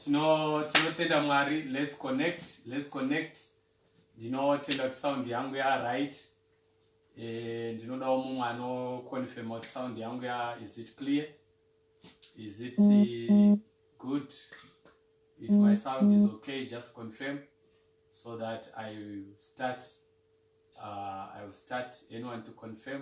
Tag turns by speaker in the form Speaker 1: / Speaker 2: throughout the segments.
Speaker 1: tino tinotenda mwari let's connect let's connect ndinotenda kuti sound yangu ya right e, eh, ndinodawo mumwe anoconfirma kuti sound yangu ya is it clear is it uh, good if my sound is okay just confirm so that i start uh, i will start anyone to confirm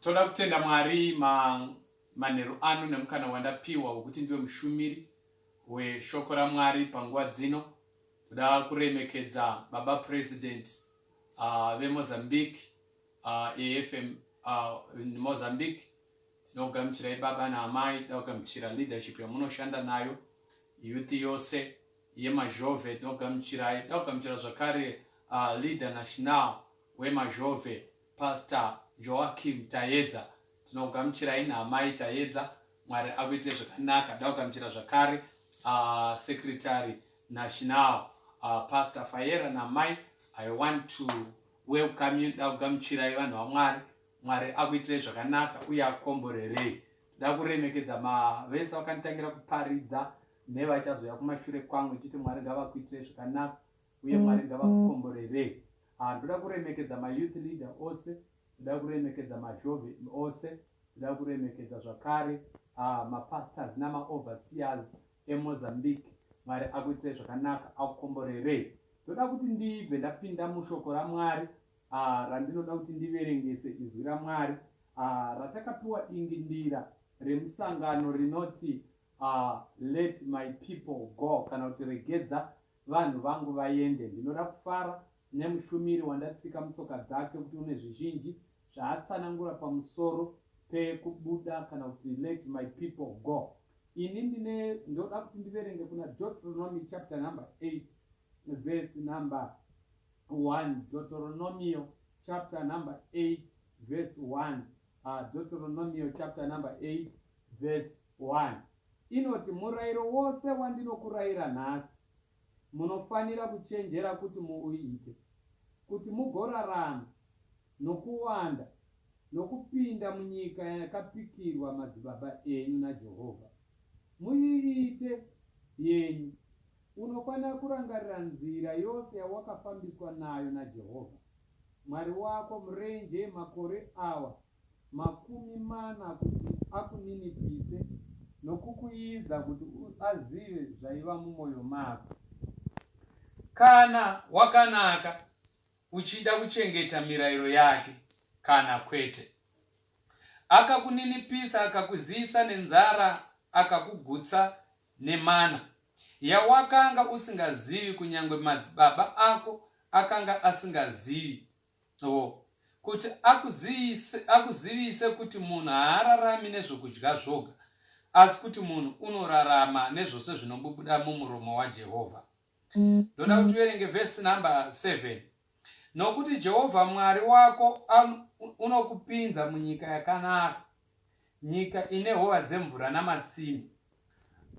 Speaker 1: toda kutenda mwari manheru ano nemukana wandapiwa wekuti ndiwe mushumiri weshoko ramwari panguva dzino ndoda kuremekedza baba president uh, vemozambique uh, efm uh, mozambique tinogamuchirai baba naamai tinogamuchira leadership yamunoshanda nayo youth yose yeMazhove tinogamuchirai tinogamuchira zvakare uh, leader national weMazhove Pastor Joachim Tayedza tinogamuchirai naamai Tayedza Mwari akuite zvakanaka tinogamuchira zvakare uh, secretary national uh, Pastor Fayera namai I want to welcome you tinogamuchirai vanhu vaMwari Mwari akuitirei zvakanaka uye akomborerei ndakuremekedza mavese vakanditangira kuparidza Nevachazouya kumashure kwangu chete Mwari ngavakuitire zvakanaka uye Mwari ngavakukomborere. Ah ndoda kuremekedza ma youth leader ose, ndoda kuremekedza mazhove ose, ndoda kuremekedza zvakare ah ma pastors nama overseers e Mozambique Mwari akuitire zvakanaka akukomborere. Ndoda kuti ndibve ndapinda mushoko raMwari ah randinoda kuti ndiverengese izwi raMwari ah ratakapiwa dingindira remusangano rinoti Ahh let my people go kana kuti regedza vanhu vangu vaende. Ndinoda kufara nemushumiri wandatsika mutsoka dzake kuti une zvizhinji zvaatsanangura pamusoro pekubuda kana kuti let my people go. Ini ndine ndoda kuti ndiverenge kuna Deuteronomy chapter number 8 verse number 1. Deuteronomio chapter number 8 verse 1. Uh, ah, Deuteronomio chapter number 8 verse One, inoti, Murairo wose wandinokurayira nhasi, munofanira kuchenjera kuti muuite, kuti mugorarama, nokuwanda, nokupinda munyika yakapikirwa madzibaba enyu naJehovha, muiite yenyu. Unofanira kurangarira nzira yose yawakafambiswa nayo naJehovha Mwari wako murenje makore awa makumi mana kuti akuninipise nokukuiidza kuti azive zvaiva mumwoyo mako. Kana wakanaka uchida kuchengeta mirayiro yake kana kwete. Akakuninipisa akakuziyisa nenzara akakugutsa nemana yawakanga usingazivi kunyange madzibaba ako akanga asingazivi Oh, kuti akuzivise, akuzivise kuti munhu haararami nezvokudya zvoga, asi kuti munhu unorarama nezvose zvinobubuda mumuromo waJehovha. Ndoda kuti uverenge vhesi number 7. Nokuti Jehovha Mwari wako an- u- unokupinza munyika yakanaka, nyika ine hova dzemvura namatsime,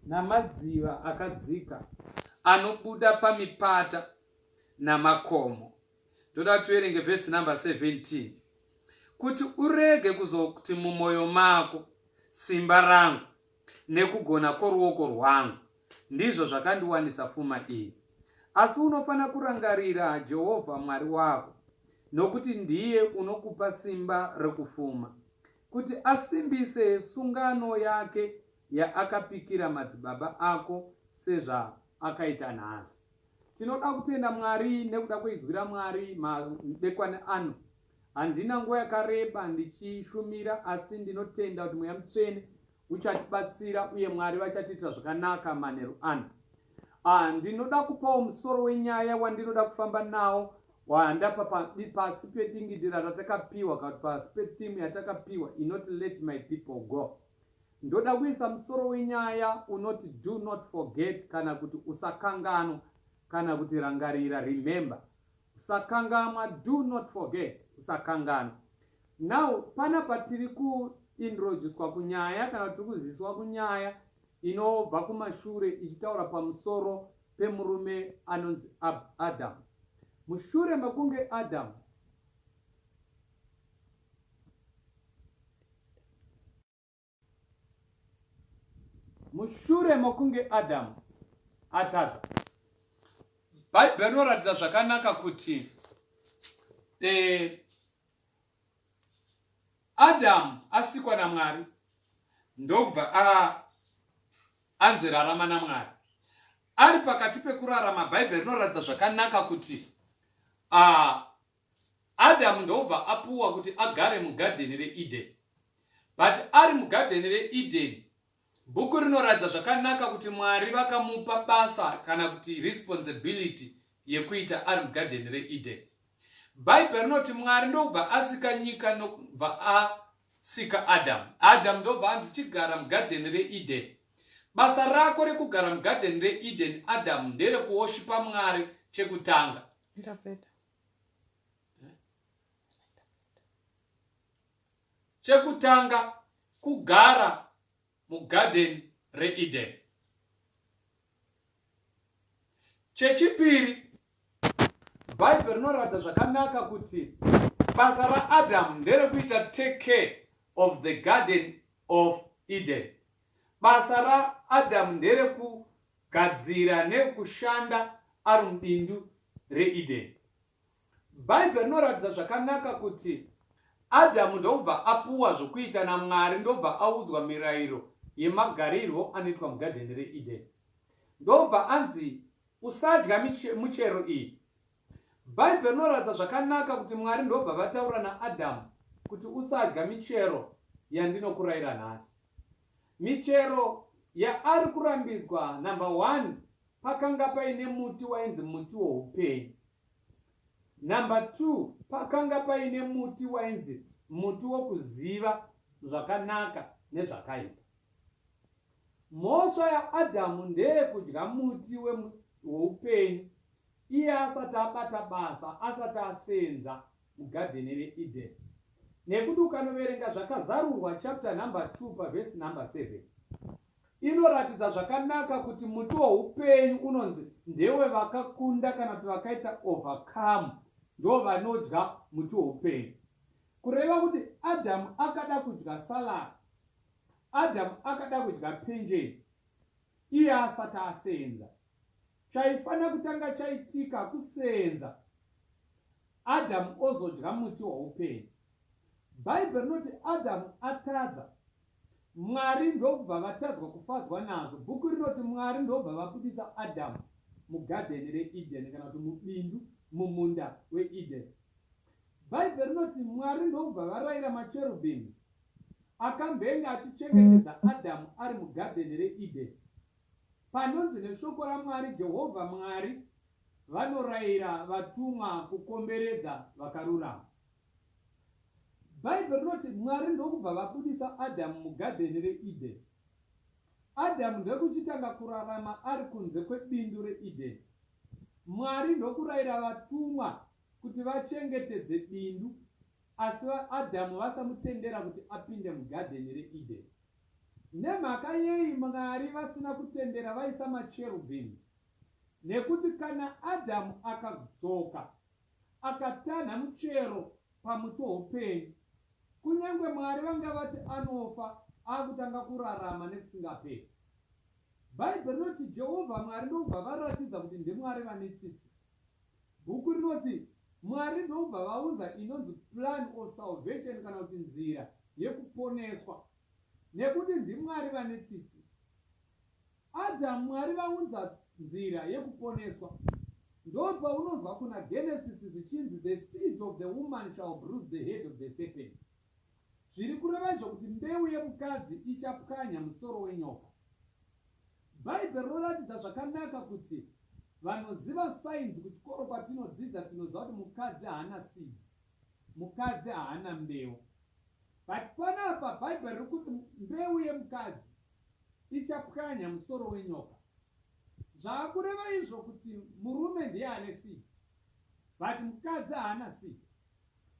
Speaker 1: namadziva akadzika anobuda pamipata namakomo. ndoda kuti uerenge vhesi number 17 kuti urege kuzokuti mumwoyo mako simba rangu nekugona kworuoko rwangu ndizvo zvakandiwanisa fuma iyi asi unofanira kurangarira jehovha mwari wako nokuti ndiye unokupa simba rekufuma kuti asimbise sungano yake yaakapikira madzibaba ako sezvaakaita nhasi Tinoda kutenda Mwari nekuda kweizwi raMwari madekwani ano. Handina nguva yakareba ndichishumira asi ndinotenda kuti Mweya Mutsvene uchatibatsira uye Mwari vachatiitira zvakanaka manheru ano. Ah, ndinoda kupawo musoro wenyaya wandinoda kufamba nawo wandapa pasi pedingidira ratakapiwa, pasi petimu yatakapiwa inoti Let My People Go. Ndoda kuisa musoro wenyaya unoti do not forget kana kuti usakanganwa kana kuti rangarira, remember. Usakangamwa, do not forget, usakanganwa. Now panapa tiri ku introducwa kunyaya kana kuti tiri kuziswa kunyaya inobva kumashure ichitaura pamusoro pemurume anonzi Adam. Mushure mekunge Adam mushure mokunge adamu atadza bhaibheri rinoratidza zvakanaka kuti eh, adamu asikwa namwari ndokubva anzi rarama namwari ari pakati pekurarama bhaibheri rinoratidza zvakanaka kuti Adam ndobva apuwa kuti agare mugadheni reEden. But ari mugadheni reEden, bhuku rinoratidza zvakanaka kuti Mwari vakamupa basa kana kuti responsibility yekuita ari mugadheni reEden. Bhaibheri rinoti Mwari ndokubva asika nyika nokubva asika Adam. Adam ndobva anzi chigara mugadheni reEden. Basa rako rekugara mugadheni reEden Adam nderekuoshipa Mwari chekutanga. Ndapeta. chekutanga kugara mugarden reeden chechipiri bhaibheri rinoratidza zvakanaka kuti basa raadamu nderekuita take care of the garden of eden Basa raAdamu nderekugadzira nekushanda ari mubindu reEdeni. Bhaibheri rinoratidza zvakanaka kuti Adamu ndokubva apuwa zvokuita naMwari ndokubva audzwa mirayiro yemagarirwo anoitwa mugadheni reEdeni. Ndokubva anzi, Usadya michero iyi, Bhaibheri rinoratidza zvakanaka kuti Mwari ndobva vataura naAdhamu kuti usadya michero yandinokurayira nhasi. Michero yaari kurambidzwa number one pakanga paine muti wainzi muti woupenyu. Number two pakanga paine muti wainzi muti wokuziva zvakanaka nezvakaipa. Mhosva yaAdhamu ndeyekudya muti woupenyu Iye asati abata basa, asati asenza mugadheni reEden. Nekuti ukanoverenga zvakazarurwa chapter number 2 paverse number 7 inoratidza zvakanaka kuti muti woupenyu unonzi ndewe vakakunda kana kuti vakaita overcome ndo vanodya muti woupenyu. Kureva kuti Adamu akada kudya salad, Adamu akada kudya penjeni iye asati asenza. Chaifanira kutanga chaitika kuseenza Adamu ozodya muti woupenyu. Bhaibheri rinoti Adamu atadza, Mwari ndokubva vatadzwa kufadzwa nazvo. Bhuku rinoti Mwari ndokubva vabudisa Adamu mugadheni reEdheni kana kuti mubindu mumunda weEdheni. Bhaibheri rinoti Mwari ndokubva varayira macherubhimi akambenge achichengetedza Adamu ari mugadheni reEdheni. Panonzi neshoko raMwari, Jehovha Mwari vanorayira vatumwa kukomberedza vakarurama. Bhaibheri rinoti Mwari ndokubva vabudisa Adhamu mugadheni reEdheni. Adhamu ndokuchitanga kurarama ari kunze kwebindu reEdheni. Mwari ndokurayira vatumwa kuti vachengetedze bindu asi Adhamu vasamutendera kuti apinde mugadheni reEdheni. Nemhaka yei Mwari vasina kutendera vaisa macherubhimi? Nekuti kana Adhamu akadzoka akatanha muchero pamuti woupenyu, kunyange Mwari vanga vati anofa akutanga kurarama nekusingaperi. Bhaibheri rinoti Jehovha Mwari ndokubva varatidza kuti ndiMwari vane tsitsi Bhuku rinoti, Mwari ndokubva vaunza inonzi plan of salvation kana kuti nzira yekuponeswa. Nekuti ndiMwari vane tsitsi. Adam Mwari vaunza nzira yekuponeswa. Ndopaunonzwa kuna Genesis zvichinzi the seed of the woman shall bruise the head of the serpent. zviri kureva izvo kuti mbeu yemukadzi ichapwanya musoro wenyoka. Bhaibheri rinoratidza zvakanaka kuti vanoziva sainzi kuchikoro kwatinodzidza tinoziva kuti mukadzi haana seed, mukadzi haana mbeu. But panapa Bhaibheri riri kuti mbeu yemukadzi ichapwanya musoro wenyoka. Zvaakureva izvo kuti murume ndiye ane seed, but
Speaker 2: mukadzi haana seed.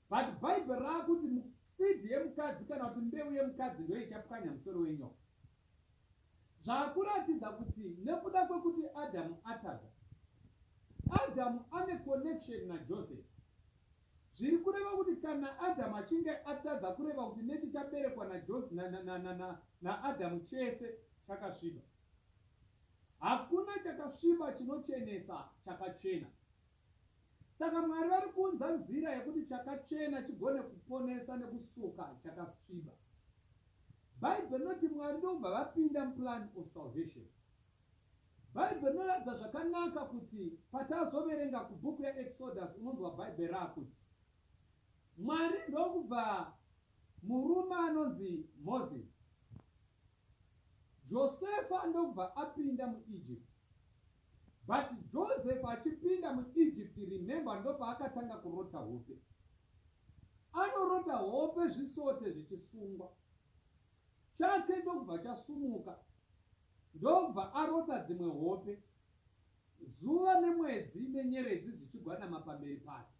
Speaker 2: But bible raakuti mu seed yemukadzi kana kuti mbeu yemukadzi ndiyo ichapwanya musoro wenyoka. Zvaakuratidza kuti nekuda kwekuti Adamu atadza. Adamu ane connection na Joseph. Zviri kureva kuti kana Adamu achinge atadza kureva kuti nechichaberekwa na Joseph na na na na na na Adamu chese chakasviba. Hakuna chakasviba chinochenesa chakachena. Saka Mwari vari kuunza nzira yekuti chakachena chigone kuponesa nekusuka chakasviba. Bible rinoti Mwari ndokubva vapinda muplan of salvation. Bible rinoratidza zvakanaka kuti patazoverenga kubhuku yaExodus unonzwa Bible raakuti Mwari ndokubva murume anonzi Moses Josefa ndokubva apinda mu Egypt. But Joseph achipinda mu Egypt remember ndopaakatanga kurota hope. Anorota hope zvisote zvichisungwa. Chake ndokubva chasumuka ndokubva arota dzimwe hope. Zuva nemwedzi nenyeredzi zvichigwadama pamberi pake.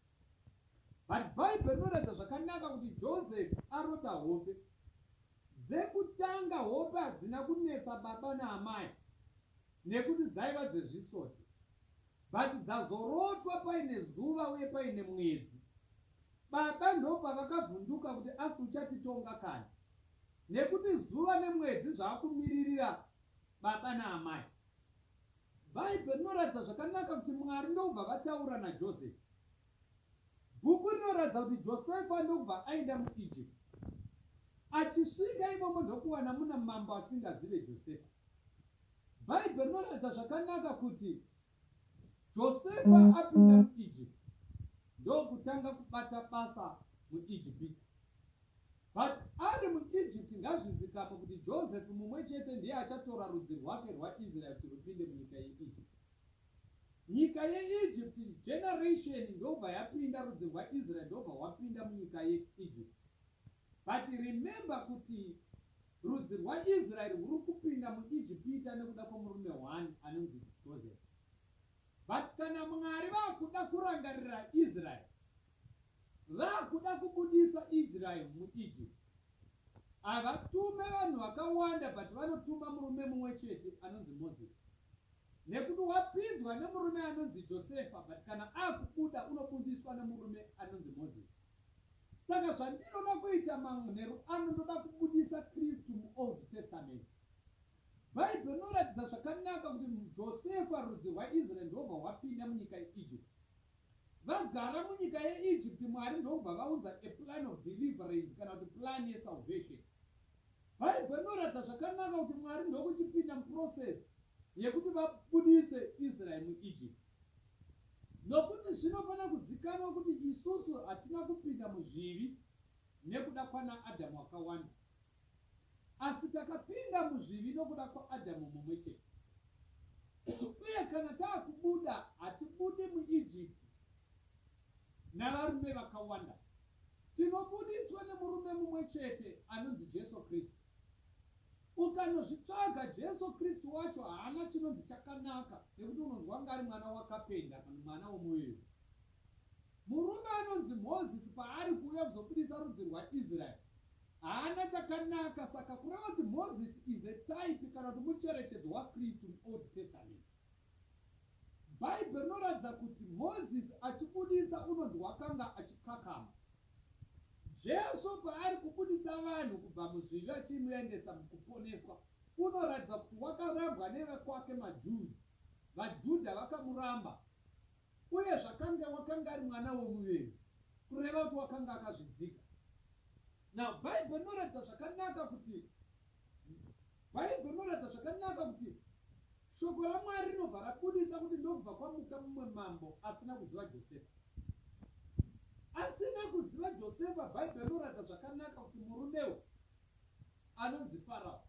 Speaker 2: But Bible rinoratidza zvakanaka kuti Joseph arota hope. Dzekutanga hope hadzina kunetsa baba naamai nekuti dzaiva dzezvisoti. But dzazorotwa paine zuva uye paine mwedzi. Baba ndopavakavhunduka kuti asi uchatitonga kani nekuti zuva nemwedzi zvaakumiririra baba naamai. Bhaibheri rinoratidza zvakanaka kuti Mwari ndokubva vataura naJosefa. Bhuku rinoratidza kuti Josefa ndokubva aenda muEgypt. Achisvika imomo ndokuwana muna mambo asingazive Josefa. Bhaibheri rinoratidza zvakanaka kuti Josefa apinda muEgypt ndokutanga kubata basa muEgipita. But ari mu Egypt ngazvizikamwe kuti Joseph mumwe chete ndiye achatora rudzi rwake rwa Israel kuti rupinde munyika ye Egypt. Nyika ye Egypt generation ndobva yapinda rudzi rwa Israel ndobva hwapinda munyika ye Egypt. But remember kuti rudzi rwa Israel rwuri kupinda mu Egypt nekuda kwemurume one anonzi Joseph. But kana Mwari vakuda kurangarira Israel Vakuda kubudisa Israel mu Egypt. Havatume vanhu vakawanda but vanotuma murume mumwe chete anonzi Moses. Nekuti wapinzwa nemurume anonzi Josefa but kana akubuda unobudiswa nemurume anonzi Moses. Saka zvandinoda kuita manheru ano ndoda kubudisa Kristu mu Old Testament. Bible rinoratidza zvakanaka kuti Josefa rudzi rwaIsrael ndobva hwapinda munyika yeEgypt. Vagara munyika yeEgypt, Mwari ndokubva vaunza a plan of deliverance kana kuti plan yesalvation. Bible inoratidza zvakanaka kuti Mwari ndokuchipinda muprocess yekuti vabudise Israel muEgypt. Nokuti zvinofanira kuzikanwa kuti isusu hatina kupinda muzvivi nekuda kwanaAdam wakawanda. Asi takapinda muzvivi nokuda kwaAdhamu mumwe chete. Uye kana taakubuda, hatibudi muIjipiti navarume vakawanda. Tinobuditswa nemurume mumwe chete anonzi Jesu Kristu. Ukanozvitsvaga, Jesu Kristu wacho haana chinonzi chakanaka nekuti unonzwa kunge ari mwana wakapenga kana mwana womuviri. Murume anonzi Mozisi paari kuuya kuzobudisa rudzi rwaIsraeri, Haana chakanaka saka kureva kuti Moses is a type kana kuti mucherechedzo waKristu muOld Testament. Bhaibheri rinoratidza kuti Moses achibudisa unonzi wakanga achikakama. Jesu paari kubudisa vanhu kubva muzvivi achimuendesa mukuponeswa unoratidza kuti wakarambwa nevekwake maJews. VaJudha vakamuramba. Uye zvakanga wakanga ari mwana womuviri, kureva kuti wakanga akazvidzika. Now, Bible rinoratidza zvakanaka kuti, Bible rinoratidza zvakanaka kuti Shoko raMwari rinobva rabudisa kuti ndokubva kwamuka mumwe mambo asina kuziva Josefa. Asina kuziva Josefa, Bible rinoratidza zvakanaka kuti murume uyu anonzi Farao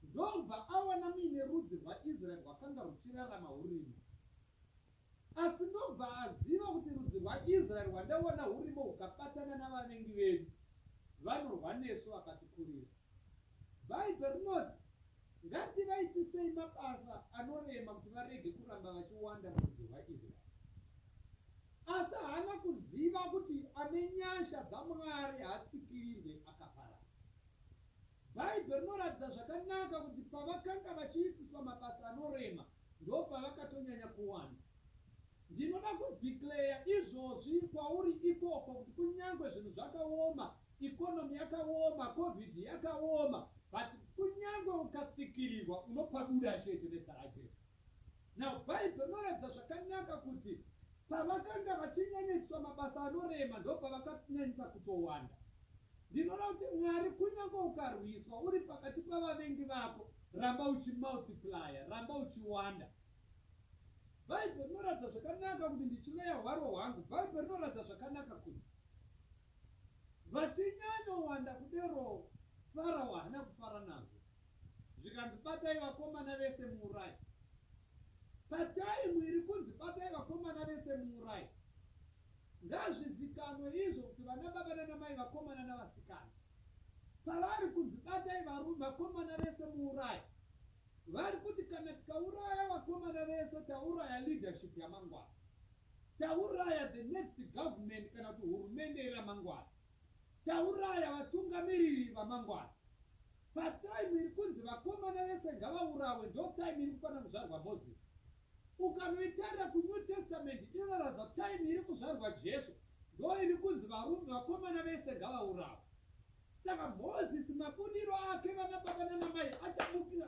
Speaker 2: ndokubva awana muine rudzi rwaIsraeri rwakanga ruchirarama hurimo. Asi ndobva aziva kuti rudzi rwaIsraeri rwandaona hurimo hukabatana navavengi vedu vanorwa nesu vakatikurira. Bhaibheri rinoti, Ngativaitisei mabasa anorema kuti varege kuramba vachiwanda murudzi rwaIsraeri. Asi haana kuziva kuti ane nyasha dzaMwari haatsikirirwe akaparara. Bhaibheri rinoratidza zvakanaka kuti pavakanga vachiitiswa mabasa anorema ndopavakatonyanya kuwana. Ndinoda kudeclarer izvozvi kwauri ikoko kuti kunyangwe zvinhu zvakaoma, economy yakaoma, Covid yakaoma but kunyangwe ukatsikirirwa unopabuda chete nezita raJesu. Now bible inoratidza zvakanaka kuti pavakanga vachinyanyaiswa mabasa anorema ndopavakanyanyisa kutowanda. Ndinoda kuti Mwari kunyange ukarwiswa uri pakati pavavengi vako ramba uchimultiplier, ramba uchiwanda. Bible rinoratidza zvakanaka kuti ndichiveya hwaro hwangu, bible rinoratidza zvakanaka kuti vachinyanyowanda kudero Farao haana kufara nazvo. zvikanzi batai vakomana vese muurayi pataimu iri kunzi batai vakomana vese muurayi ngazvizikanwe izvo kuti vana baba nanamai vakomana navasikana pavari kunzi batai varume vakomana vese muurayi vari kuti kana tikauraya vakomana vese tauraya leadership yamangwana tauraya the next government kana kuti hurumende yeramangwana Tauraya vatungamiriri vamangwana. Pa time iri kunzi vakomana vese ngavaurawe ndo time iri kufana kuzvarwa Moses. Ukanoitarira ku New Testament inoratidza time iri kuzvarwa Jesu ndo iri kunzi varume vakomana vese ngavaurawe. Saka Moses mabudiro ake vana baba nana mai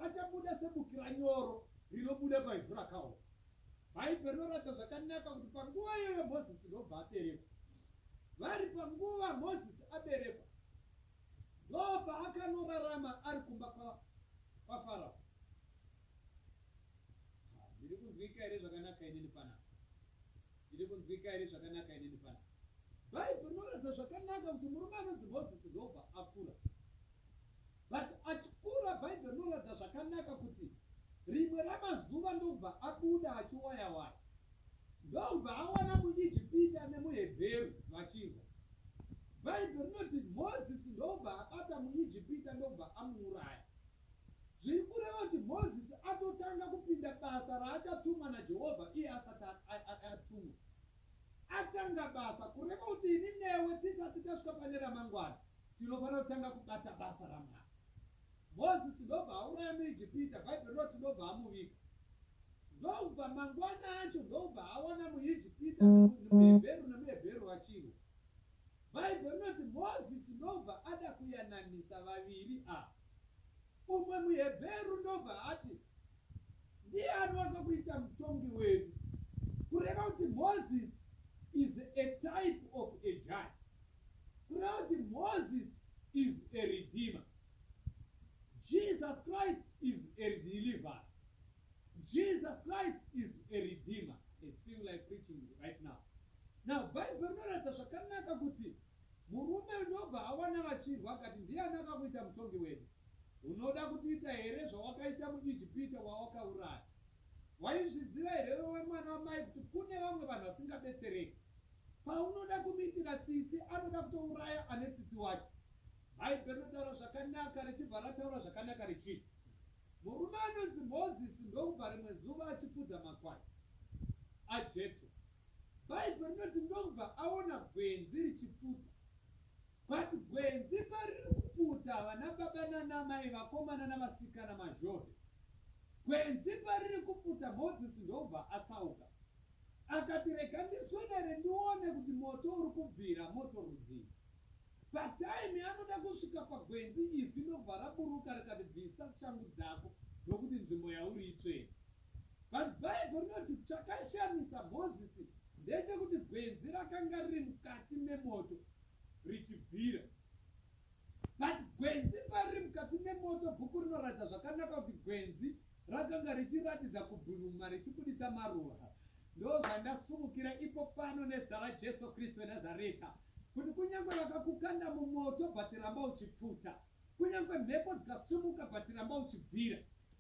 Speaker 2: achabuda sebukira nyoro rinobuda pa ivhu rakaoma. Bhaibheri rinoratidza zvakanaka kuti panguva iyoyo Mozisi ndobva aberekwa. Vari panguva Mozisi aberekwa, ndopaakannorarama ari kumba kwaFarao. Ndiri kunzwika here zvakanaka inini panapa? Ndiri kunzwika here zvakanaka inini panapa? Bhaibheri rinoratidza zvakanaka kuti murume anonzi Mozisi ndobva akura. But achikura bible rinoratidza zvakanaka kuti rimwe ramazuva ndokubva abuda achiwaya waya ndokubva awana muijipita nemuhebheru vachirwa. Bible rinoti Moses ndokubva abata muijipita ndokubva amuuraya. Zviri kureva kuti Moses atotanga kupinda basa raachatumwa naJehovha iye asati atumwa. Atanga basa, kureva kuti ini newe tisati tasvika pane ramangwana, tinofanira kutanga kubata basa raMwari. Mozisi ndobva auraya muIjipita, Bhaibheri rinoti ndobva amuviga. Ndobva mangwana acho ndobva awana muIjipita, muHebheru nemuHebheru vachirwa. Bhaibheri rinoti Mozisi ndobva ada kuyananisa vaviri ava. Umwe muHebheru ndobva ati, Ndiani wakakuita mutongi wedu? Kureva kuti Moses is a type of a judge. Kureva kuti Moses is a redeemer. Jesus Christ is a deliverer. Jesus Christ is a redeemer. It's feeling like preaching right now. Now, Bible rinoratidza zvakanaka kuti Murume ndobva awana vachirwa akati, Ndiani akakuita mutongi wedu? Unoda kutiita here zvawakaita muIjipita wawakauraya? Waizviziva here iwewe mwana wamai kuti kune vamwe vanhu vasingabetsereki? Paunoda kumuitira tsitsi anoda kutouraya ane tsitsi wacho. Bhaibheri rinotaura zvakanaka richibva rataura zvakanaka richiti, Murume anonzi Mozisi ndokubva rimwe zuva achifudza makwai aJetro. Bhaibheri rinoti ndokubva aona gwenzi richiputa. But gwenzi pariri kuputa vana baba nana mai vakomana navasikana mazhove. Gwenzi pariri kuputa Mozisi ndokubva atsauka. Akati rega ndiswedere ndione kuti moto uri kubvira moto rudzii. Patime anoda kusvika pagwenzi izwi ndokubva raburuka rikati bvisa shangu dzako nokuti nzvimbo yauri itsvene. But Bible rinoti chakashamisa Mozisi ndechekuti gwenzi rakanga riri mukati memoto richibvira. But gwenzi pariri mukati memoto bhuku rinoratidza zvakanaka kuti gwenzi rakanga richiratidza kubhunuma richibuditsa maruva. Ndozvandasumukira ipo pano nezita raJesu Kristu weNazareta kuti kunyange vakakukanda mumoto but ramba uchipfuta. Kunyangwe mhepo dzikasumuka but ramba uchibvira.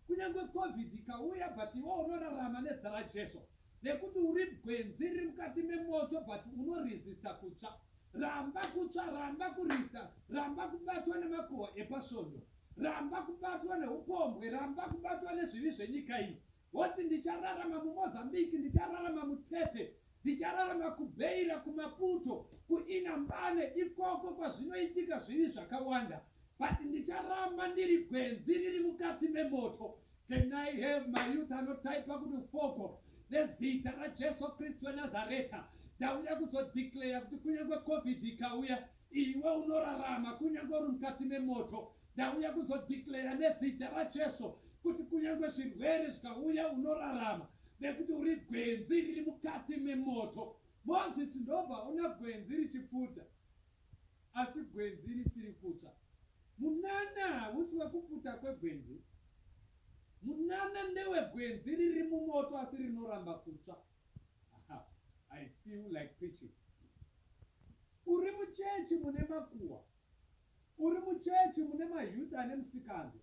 Speaker 2: Kunyangwe covid ikauya but iwe unorarama nezita raJesu. Nekuti uri gwenzi riri mukati memoto but uno resister kutsva. Ramba kutsva, ramba kurista, ramba kubatwa nemakuhwa epasvondo. Ramba kubatwa nehupombwe, ramba kubatwa nezvivi zvenyika iyi. Voti ndichararama muMozambique, ndichararama muTete, ndichararama kuBeira, kuMaputo, kuInhambane, ikoko kwazvinoitika zvivi zvakawanda. But ndicharamba ndiri gwenzi riri mukati memoto. Can I have my youth anotaipa kuti ufoko nezita raJesu Kristu weNazareta. Ndauya kuzodeclare kuti kunyange Covid ikauya, Iwe unorarama kunyange uri mukati memoto. Ndauya kuzodeclare nezita raJesu kuti kunyange zvirwere zvikauya unorarama nekuti uri gwenzi riri mukati memoto. Mozisi ndobva aona gwenzi richipfuta asi gwenzi risiri kutsva. Munana hausi wekupfuta kwegwenzi. Munana ndewegwenzi riri mumoto asi rinoramba kutsva. Haa I feel like preaching. Uri muchechi mune makuwa. Uri muchechi mune mayouth ane musikanzwa.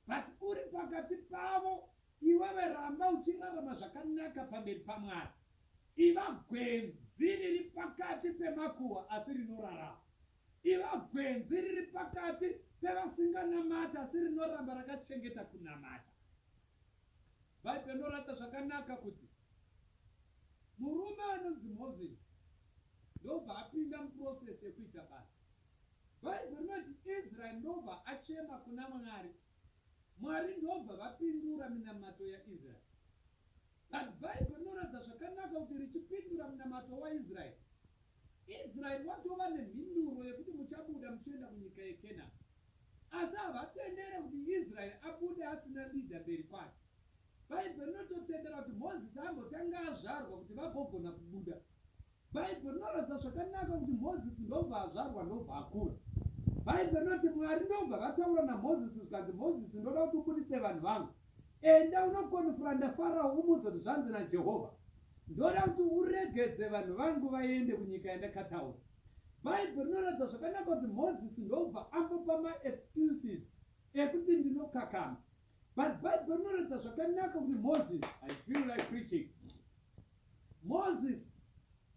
Speaker 2: But uri pakati pavo iwewe ramba uchirarama zvakanaka pamberi paMwari. Iva gwenzi riri pakati pemakuwa asi rinorarama. Iva gwenzi riri pakati pevasinganamati asi rinoramba rakachengeta kunamata. Bhaibheri rinoratidza zvakanaka kuti murume anonzi Moses ndobva apinda muprocess yekuita basa. Bhaibheri rinoti Israeri ndobva achema kuna Mwari, Mwari ndobva vapindura minamato yaIsraeri. But Bhaibheri rinoratidza zvakanaka kuti richipindura munamato waIsraeri, Israeri watova nemhinduro yekuti muchabuda muchienda kunyika yeKenani. Asi havatendere kuti Israeri abude asina leader mberi kwake. Bhaibheri rinototendera kuti Mozisi ambotanga azvarwa kuti vagogona kubuda. Bhaibheri rinoratidza zvakanaka kuti Mozisi ndobva azvarwa ndobva akura. Bhaibheri rinoti Mwari ndobva vataura naMozisi zvikanzi Mozisi ndoda kuti ubuditse vanhu vangu. Enda unokonfranda Farao umuudze kuti zvanzi naJehovha, Ndoda kuti uregedze vanhu vangu vaende kunyika yandakataura. Bhaibheri rinoratidza zvakanaka kuti Mozisi ndokubva ambopa maexcuses ekuti ndinokakama. But Bhaibheri rinoratidza zvakanaka kuti Mozisi, I feel like preaching. Mozisi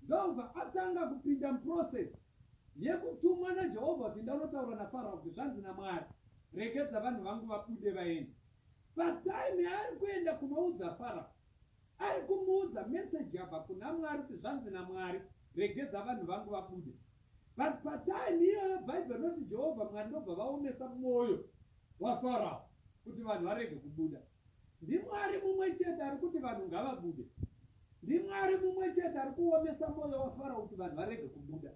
Speaker 2: Ndobva atanga kupinda muprocess yekutumwa naJehovha kuti ndanotaura naFarao kuti zvanzi naMwari, Regedza vanhu vangu vabude vaende. Patime yaari kuenda kunoudza Farao, ari kumuudza message yabva kuna Mwari kuti zvanzi naMwari, Regedza vanhu vangu vabude. But patime iyoyo Bible rinoti Jehovha Mwari ndobva vaomesa mwoyo waFarao kuti vanhu varege kubuda. NdiMwari mumwe chete ari kuti vanhu ngavabude. NdiMwari mumwe chete ari kuomesa mwoyo waFaro kuti vanhu varege kubuda.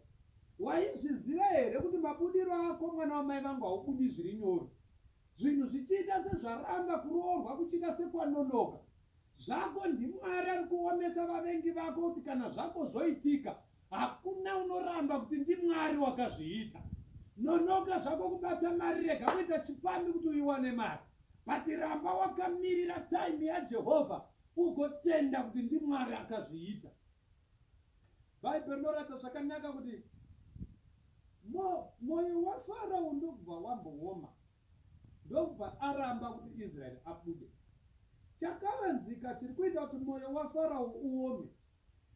Speaker 2: Waizviziva here kuti mabudiro ako mwana wamai vangu haubudi zviri nyoro? Zvinhu zvichiita sezvaramba, kuroorwa kuchiita sekwanonoka. Zvako ndiMwari ari kuomesa vavengi vako kuti kana zvako zvoitika, Hakuna unoramba kuti ndimwari wakazviita. Nonoka zvako kubata mari rega kuita chipfambi kuti uiwane mari. But ramba wakamirira time yaJehovha ugotenda kuti ndimwari akazviita. Bible rinoratidza zvakanaka kuti moyo waFarao ndokubva wambooma ndokubva aramba kuti Israel abude. Chakavanzika chiri kuita kuti moyo waFarao uome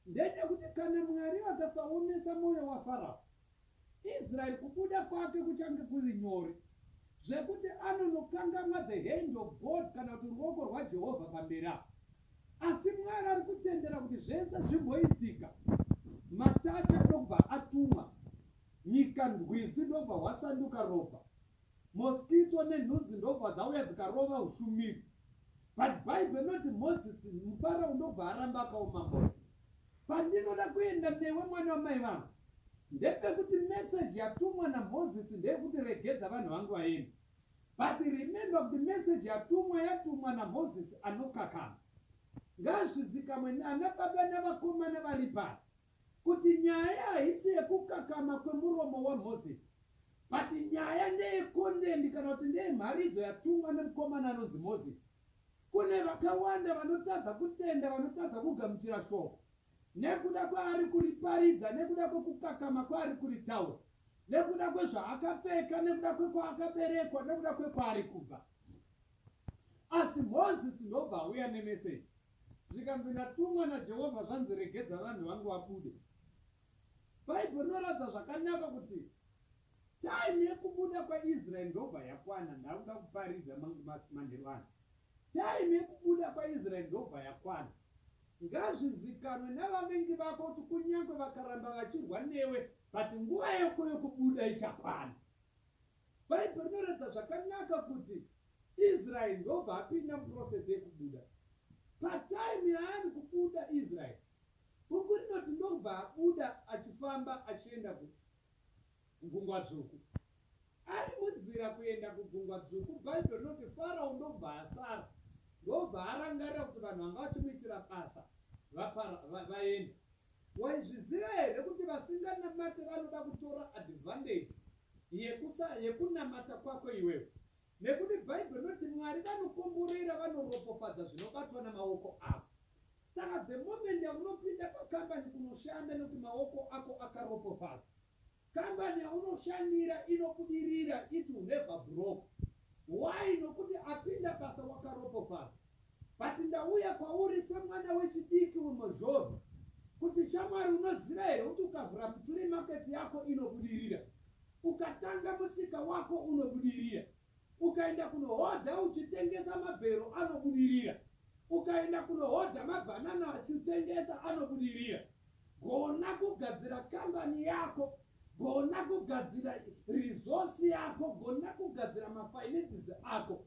Speaker 2: Ndechekuti kana Mwari vakasaomesa moyo waFarao, Israel kubuda kwake kuchange kuri nyore zvekuti anonokangamwa the hand of God kana kuti ruoko rwaJehovha pamberi apo. Asi Mwari ari kutendera kuti zvese zvimboitika, matacha ndokubva atumwa, nyika ndwizi ndokubva hwasanduka ropa, mosquito nenhunzi ndokubva dzauya dzikarova ushumiri. But Bible inoti Moses mupara unobva aramba akaoma moyo. Pandinoda kuenda newe mwana wamai vangu ndepekuti message yatumwa naMoses ndeyekuti regedza vanhu vangu vaende. But remember kuti message yatumwa yatumwa naMoses anokakama. Ngazvizikamwe nana baba navakomana vari pano. Kuti nyaya haisi yekukakama kwemuromo waMoses but nyaya ndeye content kana kuti ndeye mharidzo yatumwa nemukomana anonzi Moses. Kune vakawanda vanotadza kutenda vanotadza kugamuchira shoko nekuda kwaari kuriparidza nekuda kwekukakama kwaari kuritaura nekuda kwezvaakapfeka nekuda kwekwaakaberekwa nekuda kwekwaari kubva. Asi Moses ndobva auya nemeseji. Zvikanzi ndatumwa naJehovha zvanzi regedza vanhu vangu vabude. Bible rinoratidza zvakanaka kuti time yekubuda kwaIsrael ndobva yakwana ndakuda kuparidza manheru ano. Time yekubuda kwaIsrael ndobva yakwana. Ngazvizikanwe navavengi vako kuti kunyange vakaramba vachirwa newe but nguva yako yekubuda ichakwana. Bhaibheri rinoratidza zvakanaka kuti Israeri ndobva apinda muprocess yekubuda. Patime yaari kubuda Israeri, bhuku rinoti ndokubva abuda achifamba achienda kugungwa dzvuku. Ari munzira kuenda kugungwa dzvuku, Bhaibheri rinoti Farao ndokubva asara, ndokubva arangarira kuti vanhu vanga vachimuitira basa vaenda. Waizviziva here kuti vasinganamate vanoda kutora advantage yekusa yekunamata kwako iwewe nekuti bible rinoti Mwari vanokomborera vanoropofadza zvinobatwa namaoko avo saka the moment yaunopinda pacompany kunoshanda nekuti maoko ako akaropofadza Company yaunoshandira inobudirira it will never broke why nokuti apinda basa wakaropofadzwa but ndauya kwauri semwana wechidiki wemhozhozho kuti shamwari unoziva here kuti ukavhura mufree market yako inobudirira ukatanga musika wako unobudirira Ukaenda kunohodha uchitengesa mabhero anobudirira. Ukaenda kunohodha mabhanana achiutengesa anobudirira. Gona kugadzira kambani yako. Gona kugadzira resource yako. Gona kugadzira mafinances ako.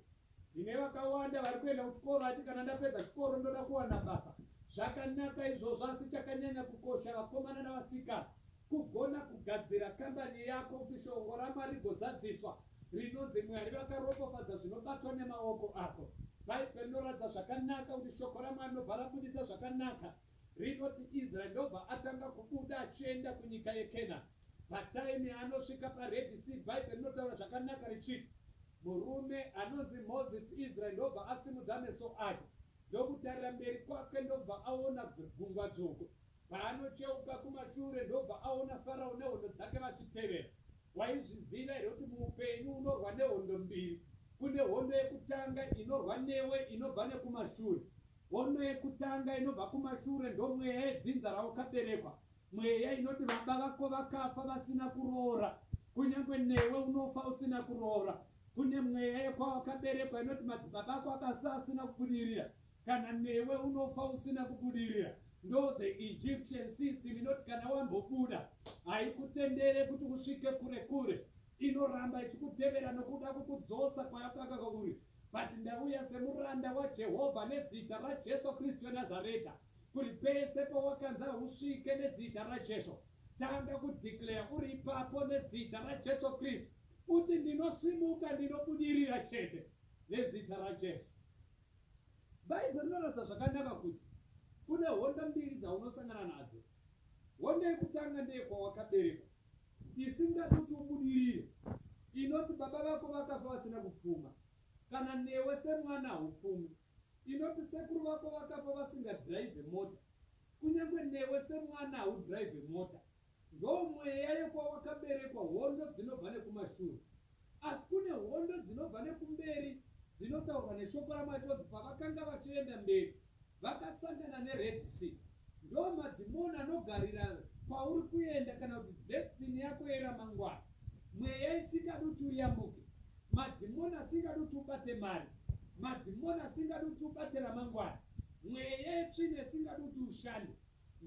Speaker 2: Tine vakawanda vari kuenda kuchikoro ati kana ndapedza chikoro ndoda kuwana basa. Zvakanaka izvozvo asi chakanyanya kukosha vakomana navasikana Kugona kugadzira kambani yako kuti shongo raMwari rigozadziswa rinonzi Mwari vakaropofadza zvinobatwa nemaoko ako. Bhaibheri rinoratidza zvakanaka kuti shoko raMwari rinobva rabuditsa zvakanaka. Rinoti Israeri ndobva atanga kubuda achienda kunyika yeKenani. Pataimi yaanosvika paRedhi Sii Bhaibheri rinotaura zvakanaka richiti, Murume anonzi Mozisi Israeri ndobva asimudza meso ake ndokutarira mberi kwake ndobva aona Gungwa Dzvuku. Paanocheuka kumashure ndobva aona Farao nehondo dzake vachitevera. Waizviziva here kuti muupenyu unorwa nehondo mbiri? Kune hondo yekutanga inorwa newe inobva nekumashure. Hondo yekutanga inobva kumashure ndomweya yedzinza rawakaberekwa. Mweya inoti baba vako vakafa vasina kuroora. Kunyange newe unofa usina kuroora. Kune mweya yekwawakaberekwa inoti madzibaba ako akafa asina kubudirira. Kana newe unofa usina kubudirira ndo the Egyptian system inoti kana wambobuda haikutendere kuti usvike kure kure inoramba ichikutevera nokuda kukudzosa kwayakaka uri but ndauya semuranda waJehovha nezita raJesu Kristu weNazareta kuri pese pawakanza usvike nezita raJesu tanga kudeclare uri ipapo nezita raJesu Kristu uti ndinosimuka ndinobudirira chete nezita raJesu Bhaibheri rinoratidza zvakanaka kuti kune hondo mbiri dzaunosangana nadzo. Hondo yekutanga ndeyekwawakaberekwa, isingadi kuti ubudirire, inoti baba vako vakafa vasina kupfuma, kana newe semwana haupfumi, inoti sekuru vako vakafa vasingadhiraivhe mota, kunyange newe semwana haudhiraivhe mota. Ndoomweya yekwawakaberekwa hondo dzinobva nekumashure. Asi kune hondo dzinobva nekumberi dzinotaurwa neshoko raMwari rinonzi pavakanga vachienda mberi vakasangana neRed Sea. Ndoomadhimoni anogarira kwauri kuenda kana kuti destiny yako yeramangwana. Mweya isingadi kuti uyambuke. Madhimoni asingadi kuti ubate mari. Madhimoni asingadi kuti ubate ramangwana. Mweya yetsvina isingadi kuti ushande.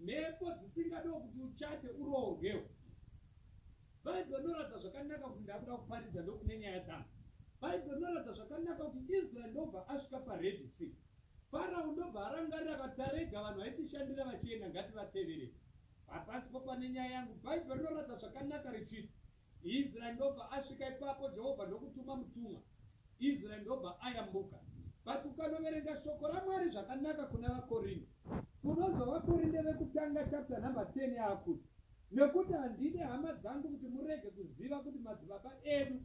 Speaker 2: Mhepo dzisingadiwo kuti uchate uroorwewo. Bible rinoratidza zvakanaka kuti ndakuda kuparidza ndokune nyaya dzangu. Bible rinoratidza zvakanaka kuti Israel ndobva asvika paRed Sea. Pharaoh ndobva arangarira akati tarega vanhu vaitishandira vachienda ngativatevere. Hapasipo pane nyaya yangu. Bible rinoratidza zvakanaka richiti Israeri ndobva asvika ipapo Jehovha ndokutuma mutumwa, Israeri ndobva ayambuka. But ukanoverenga shoko raMwari zvakanaka kuna vaKorinde, unonzwa vaKorinde vekutanga chapter number 10 yaakuti, Nekuti handide hama dzangu kuti murege kuziva kuti madzibaba edu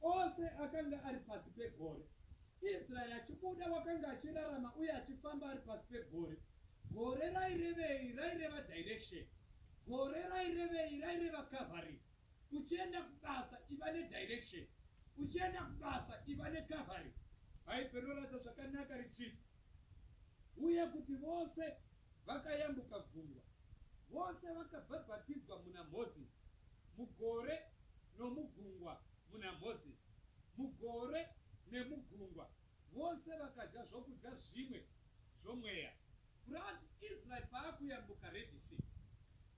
Speaker 2: ose akanga ari pasi pegore. Israeri achibuda wakanga achirarama uye achifamba ari pasi pegore. Gore rairevei? Raireva direction. Gore rairevei? Raireva cavalry. Uchienda kubasa iva ne direction. Uchienda kubasa iva ne cavalry. Bhaibheri rinoratidza zvakanaka richiti, Uye kuti vose vakayambuka gungwa, vose vakabhabhatidzwa muna Mozisi, mugore nomugungwa muna Mozisi, mugore nemugungwa Vose vakadya zvokudya zvimwe zvomweya. Plus Israel paakuyambuka Red Sea.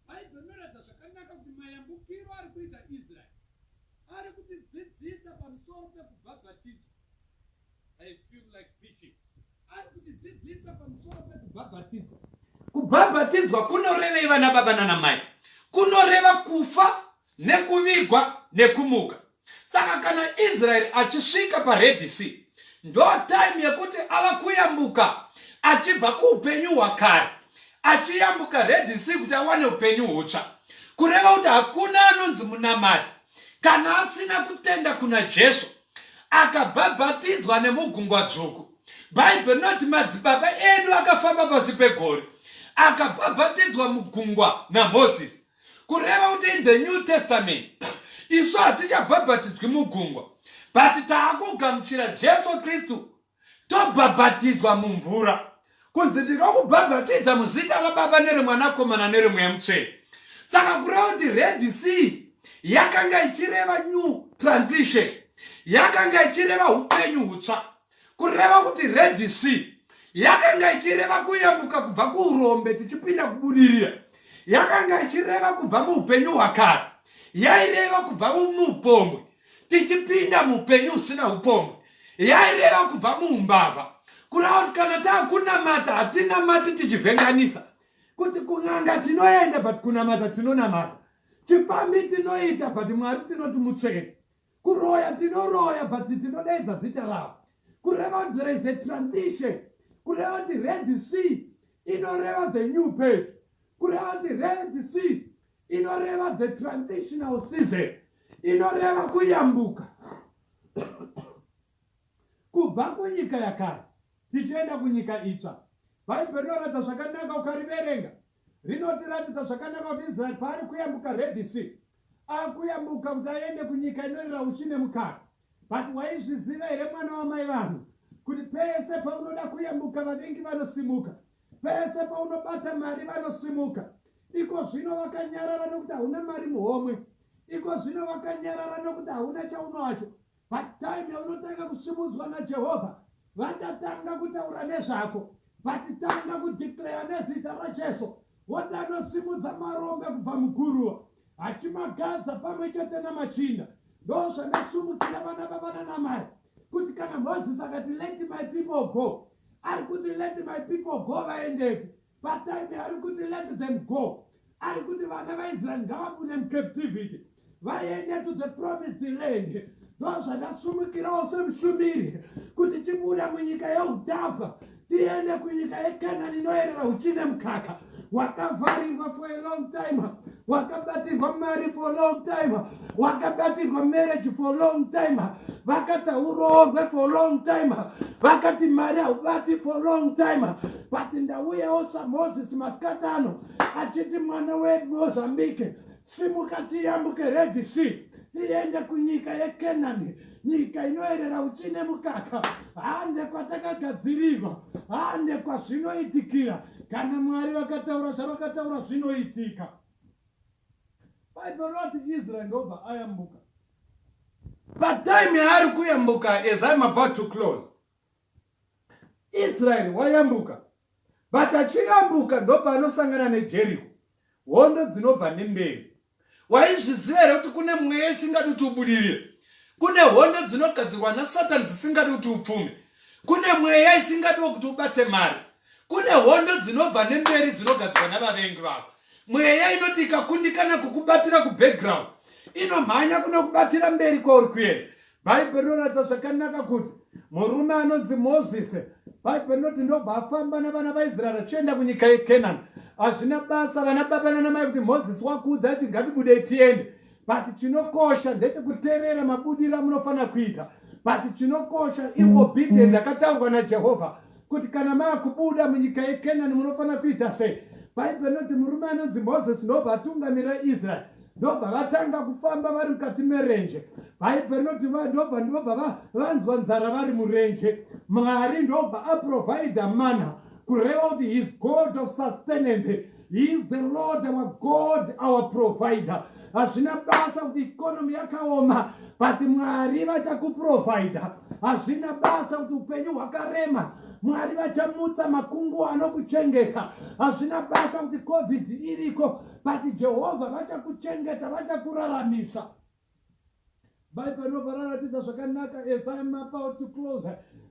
Speaker 2: Bible rinoratidza zvakanaka kuti mayambukiro ari kuita Israel ari kutidzidzisa pamusoro pekubhabhatidzwa. I feel like preaching. Ari kutidzidzisa pamusoro pekubhabhatidzwa. Kubhabhatidzwa kunorevei vana baba nana mai? Kunoreva kufa nekuvigwa nekumuka saka kana israeri achisvika paredhi sea ndo time yekuti ava kuyambuka achibva kuupenyu hwakare achiyambuka redhi sea kuti awane upenyu hutsva kureva kuti hakuna anonzi munamati kana asina kutenda kuna jesu akabhabhatidzwa nemugungwa dzvuku bhaibheri rinoti madzibaba edu akafamba pasi pegore akabhabhatidzwa mugungwa namozisi kureva kuti in the new testament isu hatichabhabhatidzwi mugungwa but taakugamuchira jesu kristu tobhabhatidzwa mumvura kunzi ndinokubhabhatidza muzita rababa neremwanakomana neremweya mutsvene saka kureva kuti redi c yakanga ichireva new transition yakanga ichireva upenyu hutsva kureva kuti red sea yakanga ichireva kuyambuka kubva kuurombe tichipinda kubudirira yakanga ichireva kubva muupenyu hwakare yaireva kubva muupombwe tichipinda muupenyu usina upombwe yaireva kubva muumbavha kureva kuti kana taakunamata hatinamati tichivhenganisa kuti kunanga tinoenda but kunamata tinonamata chipambi tinoita but mwari tinoti mutsvene Kuroya tinoroya but tinodaidza zita ravo. Kureva kuti there is a transition. Kureva kuti Red Sea inoreva the new page. Kureva kuti Red Sea inoreva the transitional season. Inoreva kuyambuka kubva kunyika yakare tichienda kunyika itsva bhaibheri rinoratidza zvakanaka ukariverenga rinotiratidza zvakanaka kuti Israeri paari kuyambuka Red Sea akuyambuka kuti aende kunyika inorira uchi nemukaka. But waizviziva here mwana wamai vanhu kuti pese paunoda kuyambuka vavengi vanosimuka, pese paunobata mari vanosimuka. Iko zvino vakanyarara nokuti hauna mari muhomwe, iko zvino vakanyarara nokuti hauna chaunowacho, Patime yaunotanga kusimudzwa naJehovha, vachatanga kutaura nezvako. Vachitanga kudeclare nezita raJesu, woti anosimudza marombe kubva muguruva, achimagadza pamwe chete namachinda. Ndozvandasumukira vana vavana namai kuti kana Moses akati let my people go, ari kuti let my people go vaendepi? Patime ari kuti let them go ari kuti vana vaisraeri ngavabude mucaptivity vaende to the promised land ndozvandasumukirawo semushumiri kuti tibuda munyika yeutapa tiende kunyika yekanani inoyerera uchine mukaka wakavharirwa for a long time wakabatirwa mari for long time wakabatirwa marriage for long time vakati hauroorwe for long time vakati mari haubati for long time but ndauyawo samoses masikati ano achiti mwana wemozambique simuka tiyambuke red sea tiende kunyika yekenani nyika inoerera uchi nemukaka hande kwatakagadzirirwa hande kwazvinoitikira kana mwari vakataura zvavakataura zvinoitika bible roti israel ndobva ayambuka but time yaari kuyambuka as im about to close israeri wayambuka but achiyambuka ndopaanosangana nejeriko hondo dzinobva nemberi waizviziva here kuti kune mweya isingadi kuti ubudirire kune hondo dzinogadzirwa nasatani dzisingadi kuti upfume kune mweya isingadiwo kuti ubate mari kune hondo dzinobva nemberi dzinogadzirwa navavengi vako mweya inoti ikakundikana kukubatira kubackground inomhanya kunokubatira mberi kwauri kuenda Bhaibheri rinoratidza zvakanaka kuti murume anonzi Mozisi, Bhaibheri rinoti ndobva afamba navana vaIsraeri achienda kunyika yeKenani. Hazvina basa vana baba nanamai kuti Mozisi wakuudza kuti ngatibudei tiende, but chinokosha ndechekuteerera mabudiro amunofanira kuita, but chinokosha iobedience yakataurwa naJehovha. kuti kana maakubuda munyika yekenani munofanira kuita sei bhaibheri rinoti murume anonzi mozisi ndobva atungamira israeri ndobva vatanga kufamba vari mukati merenje bhaibheri rinoti ndobva ndobva vanzwa nzara vari murenje mwari ndobva aprovhaidha mana kureva kuti his god of sustenance He is the Lord our God, our provider. Hazvina basa kuti economy yakaoma, but Mwari vachakuprovider. Hazvina basa kuti upenyu hwakarema, Mwari vachamutsa makungu anokuchengeta. Hazvina basa kuti COVID iriko, but Jehovah vachakuchengeta, vachakuraramisa. bhaibheri robva raratidza zvakanaka as im about to close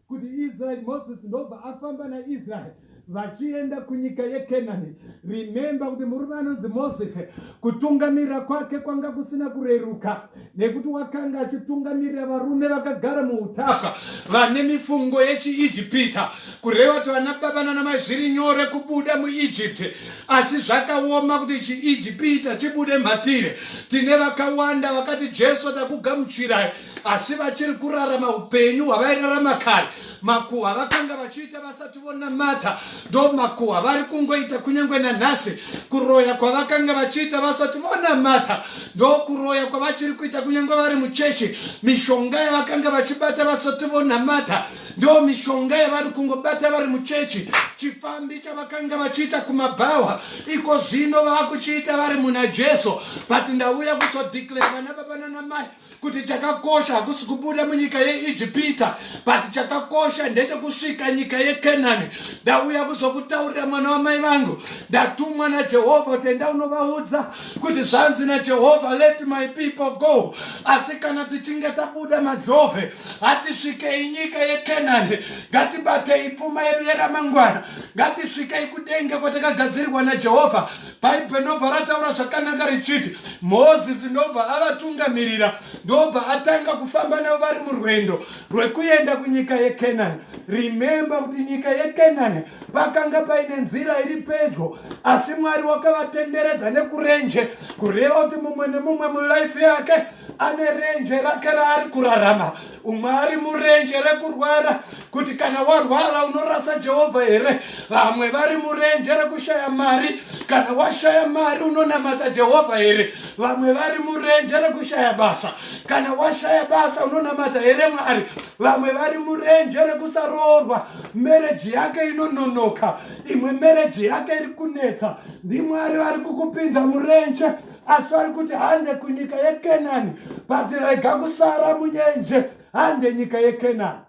Speaker 2: kuti israeri moses ndobva afamba naisraeri vachienda kunyika yekenani rimemba kuti murume anonzi moses kutungamirira kwake kwanga kusina kureruka nekuti wakanga achitungamirira varume vakagara muutaka vane mifungo yechiijipita kureva kuti vana baba nana mai zviri nyore kubuda muegypt asi zvakaoma kuti chiegypita chibude mhatire tine vakawanda vakati jesu takugamuchirai asi vachiri kurarama upenyu hwavairarama kare makuhwa vakanga vachiita vasati vonamata ndo makuhwa vari kungoita kunyange nanhasi kuroya kwavakanga vachiita vasati vonamata ndo kuroya kwavachiri kuita kunyange vari muchechi mishonga yavakanga vachibata vasati vonamata ndo mishonga yavari kungobata vari muchechi chipfambi chavakanga vachiita kumabhawa iko zvino vakuchiita vari muna jesu but ndauya kuzodeclare vana baba nanamai kuti chakakosha hakusi kubuda munyika yeijipita but chakakosha ndechekusvika nyika yekenani ndauya kuzokutaurira mwana wamai vangu ndatumwa najehovha kuti enda unovaudza kuti zvanzi najehovha let my people go asi kana tichinge tabuda mazhove hatisvikei nyika yekenani ngatibatei pfuma yedu yeramangwana ngatisvikei kudenge kwatakagadzirirwa najehovha bhaibheri ndobva rataura zvakanaka richiti mozisi ndobva avatungamirira ndobva atanga kufamba navo vari murwendo rwekuenda kunyika yekenani rimemba kuti nyika yekenani pakanga paine nzira iri pedyo asi mwari wakavatenderedza nekurenje kureva kuti mumwe nemumwe mulife yake ane renje rake raari kurarama umwe ari murenje rekurwara kuti kana warwara unorasa jehovha here vamwe vari murenje rekushaya mari kana washaya mari unonamata jehovha here vamwe vari murenje rekushaya basa kana washaya basa unonamata here mwari vamwe vari murenje rekusaroorwa mereji yake inononoka imwe mereji yake iri kunetsa ndimwari vari kukupinza murenje asi vari kuti hande kunyika yekenani but rega kusara munyenje hande nyika yekenani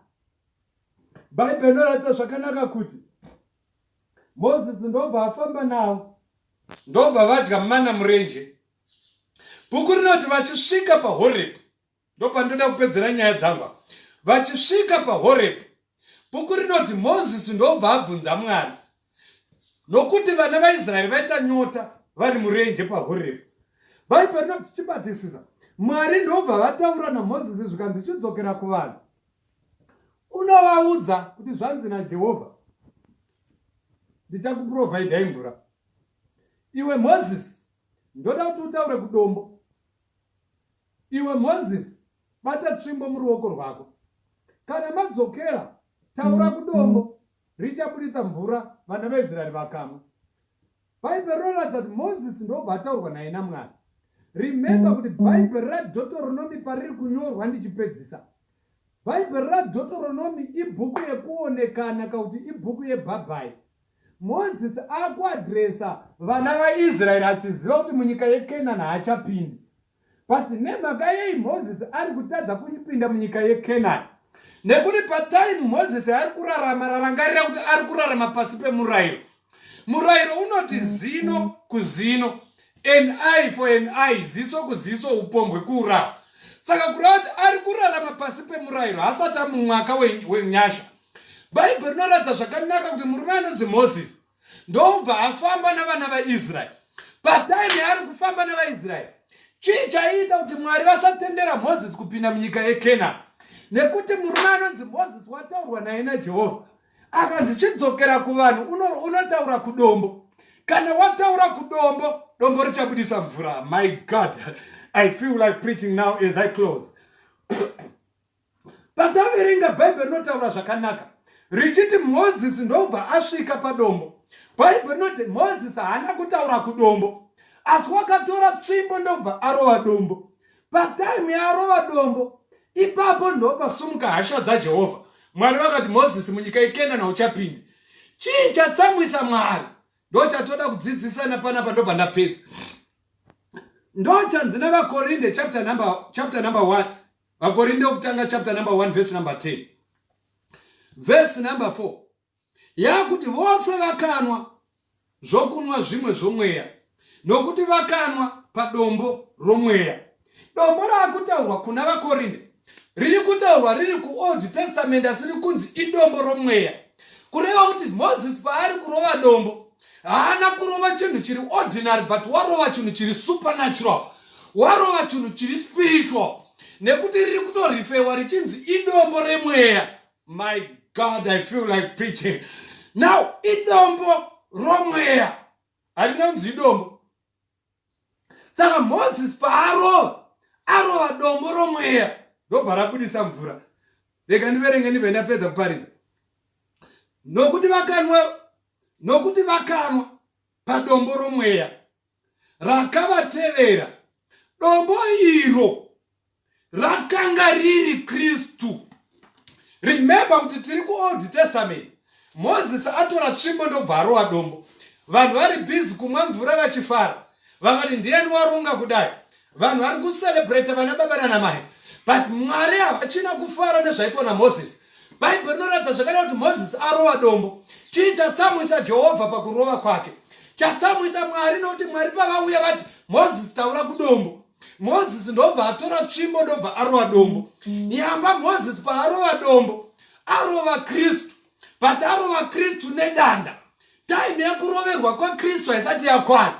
Speaker 2: bhaibheri inoratidza zvakanaka kuti mozisi ndobva afamba navo ndobva vadya mana murenje bhuku rinoti vachisvika pahorepi ndopandinoda kupedzera nyaya dzangu vachisvika pahorepi bhuku rinoti mozisi ndobva abvunza mwana nokuti vana vaisraeri vaita nyota vari murenje pahorepi baipa rinoti chibatisisa mwari ndobva vataura namozisi zvikanzi chidzokera kuvanhu unovaudza kuti zvanzi najehovha ndichakupurovhaidhai mvura iwe mozisi ndoda kuti utaure kudombo Iwe Moses, bata tsvimbo muruoko rwako. Kana madzokera, taura kudombo, richaburitsa mvura, vana veIsraeri vakamwa. Bhaibheri rinoratidza kuti Moses ndobva ataurwa naye naMwari. Remember kuti Bhaibheri raDhotoronomi pariri kunyorwa ndichipedzisa. Bhaibheri raDhotoronomi ibhuku yekuonekana kakuti ibhuku yebhabhai. Moses akuadresa vana vaIsraeri achiziva kuti munyika yeKenani haachapindi. But nemhaka yei Moses ari kutadza kupinda munyika yeKenani? Nekuti patime Moses ari kurarama rarangarira kuti ari kurarama pasi pemurayiro. Murayiro unoti zino kuzino, an eye for an eye, ziso kuziso, upombwe kuuraya. Saka kureva kuti ari kurarama pasi pemurayiro hasati amumwaka wenyasha. Bhaibheri rinoratidza zvakanaka kuti murume anonzi Moses ndobva afamba navana vaisraeri pataimi yaari kufamba nevaisraeri chii chaiita kuti mwari vasatendera mozisi kupinda munyika yekenani nekuti murume anonzi mozisi wataurwa naye najehovha akanzi chidzokera kuvanhu unotaura uno kudombo kana wataura kudombo dombo richabudisa mvura my god i feel like preaching now as i close Pataverenga Bhaibheri rinotaura zvakanaka richiti Mozisi ndobva asvika padombo. Bhaibheri rinoti Mozisi haana kutaura kudombo, asi wakatora tsvimbo ndobva arova dombo. Pataimu yaarova dombo, ipapo ndopasumuka hasha dzaJehovha. Mwari vakati, Mozisi, munyika yeKenana uchapinda. Chii chatsamwisa Mwari? Ndo chatoda kudzidzisana panapa ndobva ndapedza. Ndo chanzi nevaKorinde chapter number, chapter number 1 Vakorinde wokutanga chapter number 1 verse number 10 verse number 4 yakuti vose vakanwa zvokunwa zvimwe zvomweya nokuti vakanwa padombo romweya dombo raakutaurwa kuna vakorinde riri kutaurwa riri kuold testament asi riri kunzi idombo romweya kureva kuti moses paari kurova dombo haana kurova chinhu chiri ordinary but warova chinhu chiri supernatural warova chinhu chiri spiritual nekuti riri kutorifewa richinzi idombo remweya my god i feel like preaching now idombo romweya harinonzi idombo saka moses paarova arova dombo romweya ndobva rabudisa mvura rega ndiverenge ndibve ndapedza kuparidza nokuti vakanwa nokuti vakanwa padombo romweya rakavatevera dombo iro rakanga riri kristu remember kuti tiri kuold testament moses atora tsvimbo ndobva arowa dombo vanhu vari busy kumwa mvura vachifara vakati ndiyani waronga kudai vanhu vari kucelebrate vana baba nana mai but mwari havachina kufara nezvaitwa namoses bhaibheri rinoratidza zvakada kuti moses arova dombo chii chatsamwisa jehovha pakurova kwake chatsamwisa mwari nokuti mwari pavauya vati moses taura kudombo mozisi ndobva atora tsvimbo ndobva arova dombo nyamba mozisi paarova dombo arova kristu but arova kristu nedanda taimi yekuroverwa kwakristu haisati yakwana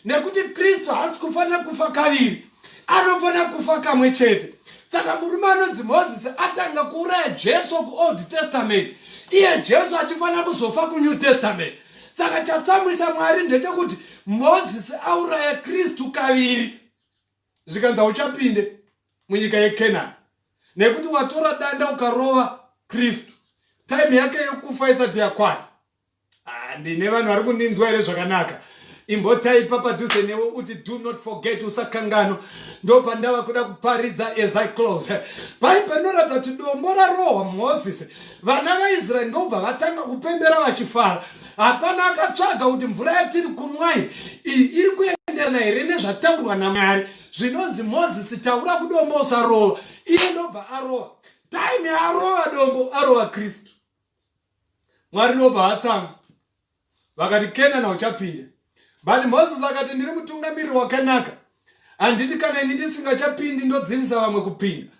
Speaker 2: nekuti kristu haasi kufanira kufa kaviri anofanira kufa kamwe chete saka murume anonzi mozisi atanga kuuraya jesu kuold testament iye jesu achifanira kuzofa kunew testament saka chatsamwisa mwari ndechekuti mozisi auraya kristu kaviri zvikanzi hauchapinde munyika yekenani nekuti watora danda ukarova kristu time yake yokufa isati yakwana ah, ndine vanhu vari kundinzwa here zvakanaka imbotaipa padhuze newe uti do not forget usakangano ndo pandava kuda kuparidza as i close pai panoratidza kuti dombo rarohwa mozisi vana vaisraeri ndobva vatanga kupembera vachifara hapana akatsvaga kuti mvura yatiri kunwai iyi iri kuenderana here nezvataurwa namwari zvinonzi mozisi taura kudombo usarova iye ndobva arova time yaarova dombo arova kristu mwari ndobva atsamwa Vakati, Kenana uchapinda. But Moses akati, ndiri mutungamiriri wakanaka. Handiti kana ini ndisingachapindi ndodzivisa vamwe kupinda.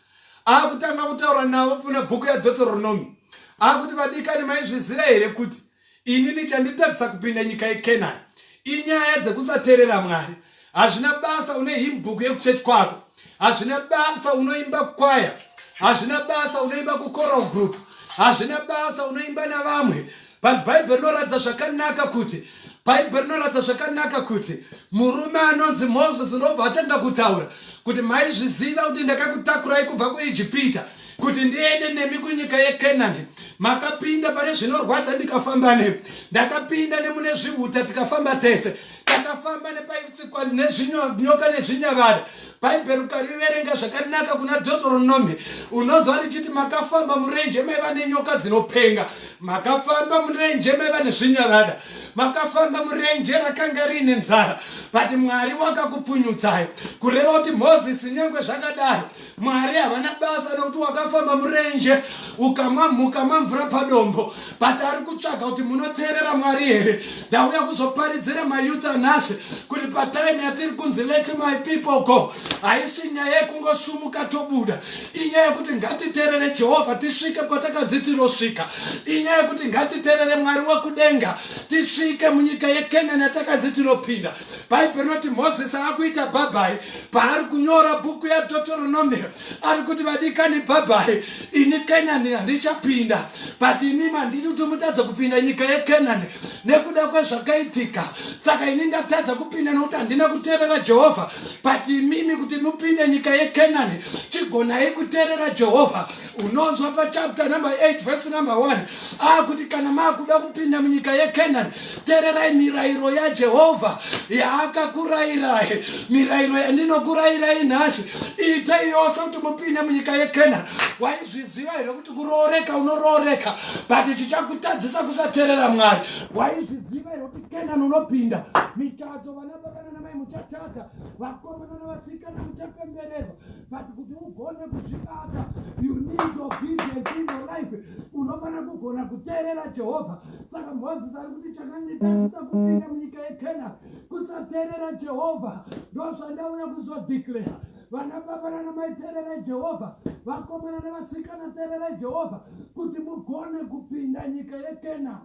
Speaker 2: Akutanga kutaura navo kuna bhuku yaDoteronomi. Akuti, vadikani maizviziva here kuti ini nichanditadzisa kupinda nyika yeKenani? Inyaya dzekusaterera Mwari. hazvina basa une him book yekuchurch kwako hazvina basa unoimba kwaya hazvina basa unoimba kucoral group hazvina basa unoimba navamwe but bhaibheri rinoratidza zvakanaka kuti bhaibheri rinoratidza zvakanaka kuti murume anonzi moses unobva atanga kutaura kuti maizviziva kuti ndakakutakurai kubva kuijipita kuti ndiende nemi kunyika yekenani makapinda pane zvinorwadza ndikafamba nemi ndakapinda nemune zviuta tikafamba tese takafamba nepaitsikwa nezvinyoka nezvinyavada bhaibheri ukariverenga zvakanaka kuna deuteronomi unonzwa richiti makafamba murenje maiva nenyoka dzinopenga makafamba murenje maiva nezvinyavada makafamba murenje rakanga riine nzara but mwari wakakupunyutsai kureva kuti mozisi nyange zvakadaro Mwari havana basa nokuti wakafamba murenje ukamwa mhuka mamvura padombo but ari kutsvaga kuti munoteerera mwari here ndauya kuzoparidzira mayouth anhasi kuti patime yatiri kunzi let my people go haisi nyaya yekungosumuka tobuda inyaya yekuti ngatiteerere jehovha tisvike kwatakanzi tinosvika inyaya yekuti ngatiteerere mwari wekudenga tisvike munyika yekenani yatakanzi tinopinda bhaibheri rinoti mozisi akuita bhabhai paari kunyora bhuku yadotoronomia ari kuti vadikani bhabhai ini kenani handichapinda but imi mandidi kuti mutadza kupinda nyika yekenani nekuda kwezvakaitika saka ini ndatadza kupinda nokuti handina kuteerera jehovha but imimi kuti mupinde nyika yekenani chigonai kuteerera jehovha unonzwa pachapta number 8 vhesi number 1 akuti kana maakuda kupinda munyika yekenani tererai mirayiro yajehovha yaakakurayirai mirayiro yandinokurayirai nhasi itei yose kuti mupinde munyika yekenani waizviziva here kuti kurooreka unorooreka but chichakutadzisa kusaterera mwari waizviziva here kuti kenani unopinda mitadzo vana baba nanamai muchatadza vakomana navasikana muchapembererwa but kuti ugone kuzvibata you need obedience in your life unofanira kugona kuteerera jehovha saka mozisi ari kuti chakanditadzisa kupinda munyika yekena kusateerera jehovha ndozvandauya kuzodeclara vana baba nana maiteerera jehovha vakomana nevasikana teerera jehovha kuti mugone kupinda nyika yekena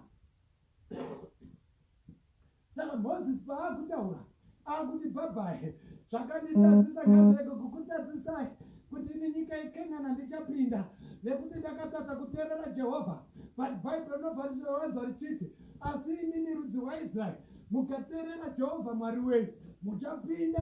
Speaker 2: Saka Moses paakutaura akuti bhabhahe zvakanditadzisa ngazvirege kukutadzisai kuti ini nyika yeKenana ndichapinda nekuti ndakatadza kuteerera Jehovha. But Bible rinobva richirovanzwa richiti, Asi imimi rudzi rwaIsraeri, mukateerera Jehovha Mwari wenyu. muchapinda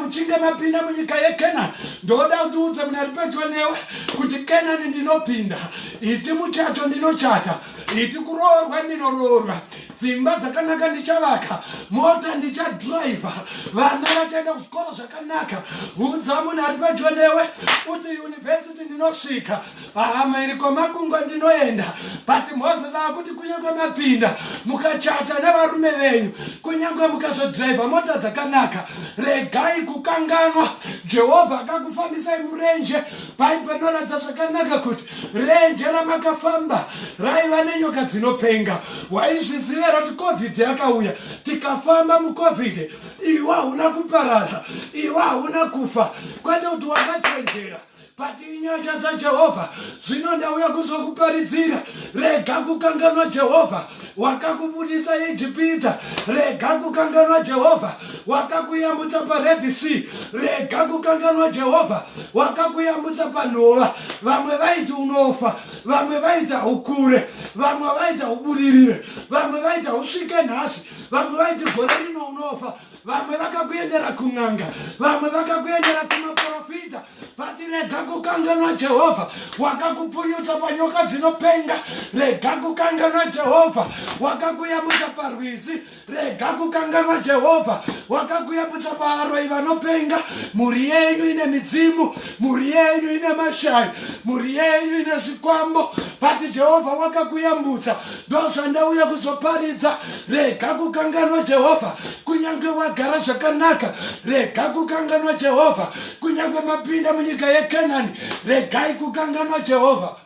Speaker 2: muchinge mapinda munyika yekenani ndoda kuti udze mune ari pedyo newe kuti kenani ndinopinda iti muchato ndinochata iti kuroorwa ndinoroorwa dzimba dzakanaka ndichavaka mota ndichadhiraivha vana vachaenda kuzvikoro zvakanaka udza munhu ari pedyo newe kuti yunivhesiti ndinosvika Ahama iri kwamakungwa ndinoenda but moses akuti kunyange mapinda mukachata nevarume venyu kunyange mukazodhiraivha mota dzakanaka regai kukanganwa jehovha akakufambisai murenje bhaibho rinoratidza zvakanaka kuti renje ramakafamba raiva nenyoka dzinopenga waizviziva here kuti covid yakauya tikafamba mucovid iwe hauna kuparara iwe hauna kufa kwete kuti wakachenjera but inyasha dzajehovha zvino ndauya kuzokuparidzira rega kukanganwa jehovha wakakubudisa ijipita rega kukanganwa jehovha wakakuyambutsa pared sea rega kukanganwa jehovha wakakuyambutsa panhova vamwe vaiti unofa vamwe vaita hukure vamwe vaita hubudirire vamwe vaita husvike nhasi vamwe vaiti gore rino unofa vamwe vakakuendera kun'anga vamwe vakakuendera kumaprofita but rega kukanganwa jehovha wakakupunyutsa panyoka dzinopenga rega kukanganwa jehovha wakakuyambutsa parwizi rega kukanganwa jehovha wakakuyambutsa paaroyi vanopenga mhuri yenyu ine midzimu mhuri yenyu ine mashayi mhuri yenyu ine zvikwambo but jehovha wakakuyambutsa ndozvandauya kuzoparidza rega kukanganwa jehovha kunyange wagara zvakanaka rega kukanganwa jehovha kunyange mapinda munyika yekenani regai kukanganwa jehovha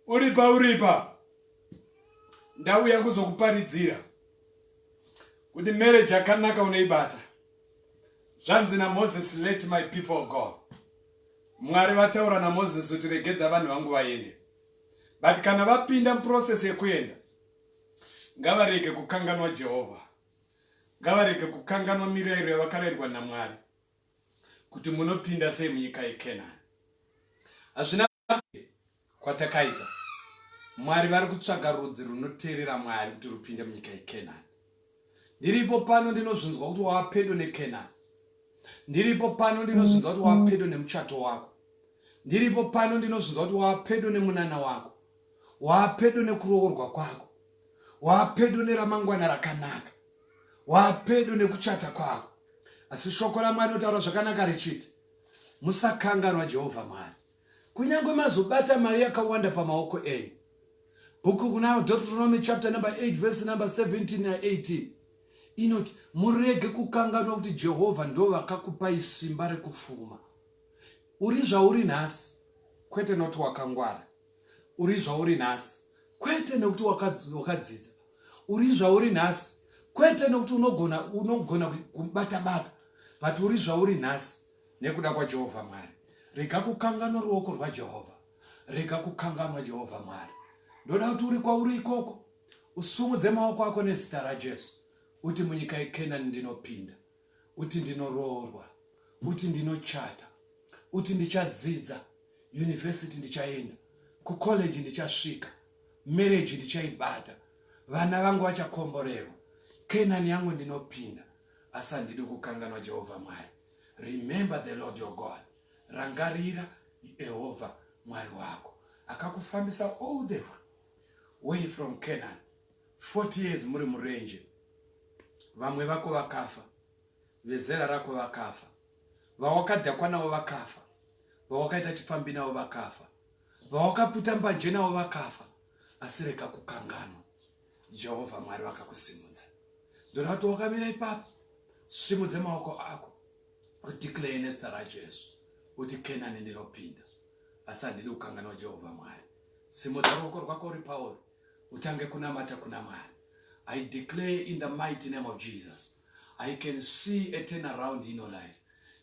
Speaker 2: uripa uripa ndauya kuzokuparidzira kuti marriage yakanaka unoibata zvanzi namoses let my people go mwari vataura namoses kuti regedza vanhu vangu vaende but kana vapinda muprocess yekuenda ngavarege kukanganwa jehovha ngavarege kukanganwa mirayiro yavakarairwa namwari kuti munopinda sei munyika yekenani hazvina kwatakaita mwari vari kutsvaga rudzi runoteerera mwari kuti rupinde munyika yekenani ndiripo pano ndinozvinzwa kuti wava pedo nekenani ndiripo pano ndinozvinzwa kuti wava pedo nemuchato wako ndiripo pano ndinozvinzwa kuti wava pedo nemunana wako wava pedo nekuroorwa kwako wava pedo neramangwana rakanaka wapedo nekuchata kwavo asi shoko ramwari notaura zvakanaka richiti musakanganwa jehovha mwari kunyange mazobata mari yakawanda pamaoko enyu bhuku kuna deuteronomy chapter number 8 verse number 17 na 18 inoti murege kukanganwa kuti jehovha ndo vakakupai simba rekupfuma uri zvauri nhasi kwete noti wakangwara uri zvauri nhasi kwete nekuti wakadzidza uri zvauri nhasi kwete nekuti unogona unogona kubata bata but uri zvauri nhasi nekuda kwaJehovha Mwari rega kukanganwa ruoko rwaJehovha rega kukanganwa Jehovha Mwari ndoda kuti uri kwauri ikoko usumudze maoko ako nezita raJesu uti munyika yeKenani ndinopinda kuti ndinoroorwa, kuti ndinochata, kuti ndichadzidza, university ndichaenda, kucollege ndichasvika, marriage ndichaibata, vana vangu vachakomborerwa, Canaan yangu ndinopinda. Asi handidi kukanganwa Jehovha Mwari. Remember the Lord your God. Rangarira Jehovha Mwari wako. Akakufambisa all the way from Canaan 40 years muri murenje vamwe vako vakafa vezera rako vakafa vawakadhakwa navo vakafa vawakaita chipfambi navo vakafa vawakaputa mbanje navo vakafa asi reka kukanganwa jehovha mwari vakakusimudza ndoda kuti wakamira ipapo simudze maoko ako udeclare nezita rajesu uti kenani ndinopinda asi handidi kukanganwa jehovha mwari
Speaker 1: simudza ruoko rwako uri pauri utange kunamata kuna Mwari. I declare in the mighty name of Jesus. I can see a turn around in your life.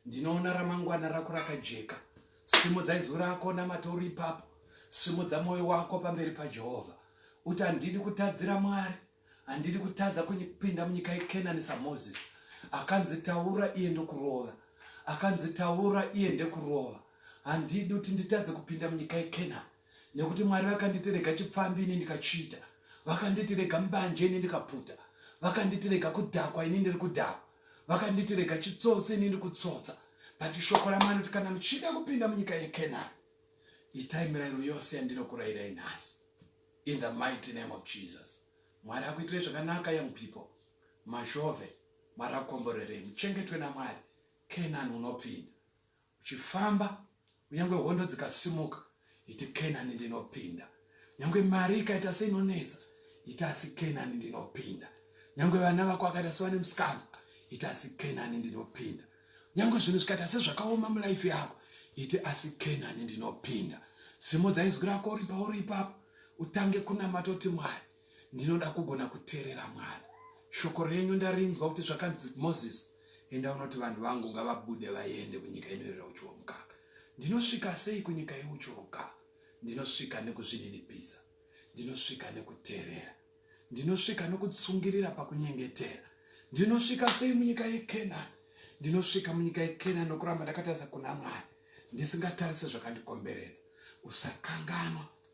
Speaker 1: Ndinoona ramangwana rako rakajeka. Simudza izwi rako namata uri ipapo. Simudza moyo wako pamberi paJehovha. Uti handidi kutadzira Mwari. Handidi kutadza kupinda munyika yeKenani saMoses. Akanzi taura iye ndokurova. Akanzi taura iye ndekurova. Handidi kuti nditadze kupinda munyika yeKenani. nekuti mwari vakanditi rega chipfambi ini ndikachiita vakanditi rega mbanje ini ndikaputa vakanditi rega kudhakwa ini ndiri kudhakwa vakanditi rega chitsotsi ini ndiri kutsotsa but shoko ramwari kuti kana muchida kupinda munyika yekenani itai mirayiro yose yandinokurayirai nhasi in the mighty name of jesus mwari akuitirai zvakanaka young people mazhove mwari akukomborerei muchengetwe namwari kenani unopinda Uchifamba, kunyange hondo dzikasimuka, iti Kenani ndinopinda. Nyange mari ikaita seinonetsa, iti asi Kenani ndinopinda. Nyange vana vako akaita sevane musikanzwa, iti asi Kenani ndinopinda. Nyange zvinhu zvikaita sezvakaoma mulaifi yako, iti asi Kenani ndinopinda. Simudza izwi rako uri pauri ipapo, utange kunamata kuti Mwari, Ndinoda kugona kuteerera Mwari. Shoko renyu ndarinzwa kuti zvakanzi Moses, enda unoti vanhu vangu ngavabude vaende kunyika inoerera uchi womukaka. Ndinosvika sei kunyika yeuchi womukaka? Ndinosvika nekuzvininipisa. Ndinosvika nekuteerera. Ndinosvika nokutsungirira pakunyengetera. Ndinosvika sei munyika yeKenani? Ndinosvika munyika yeKenani nokuramba ndakataza kuna Mwari, ndisingatarise zvakandikomberedza. Usakanganwa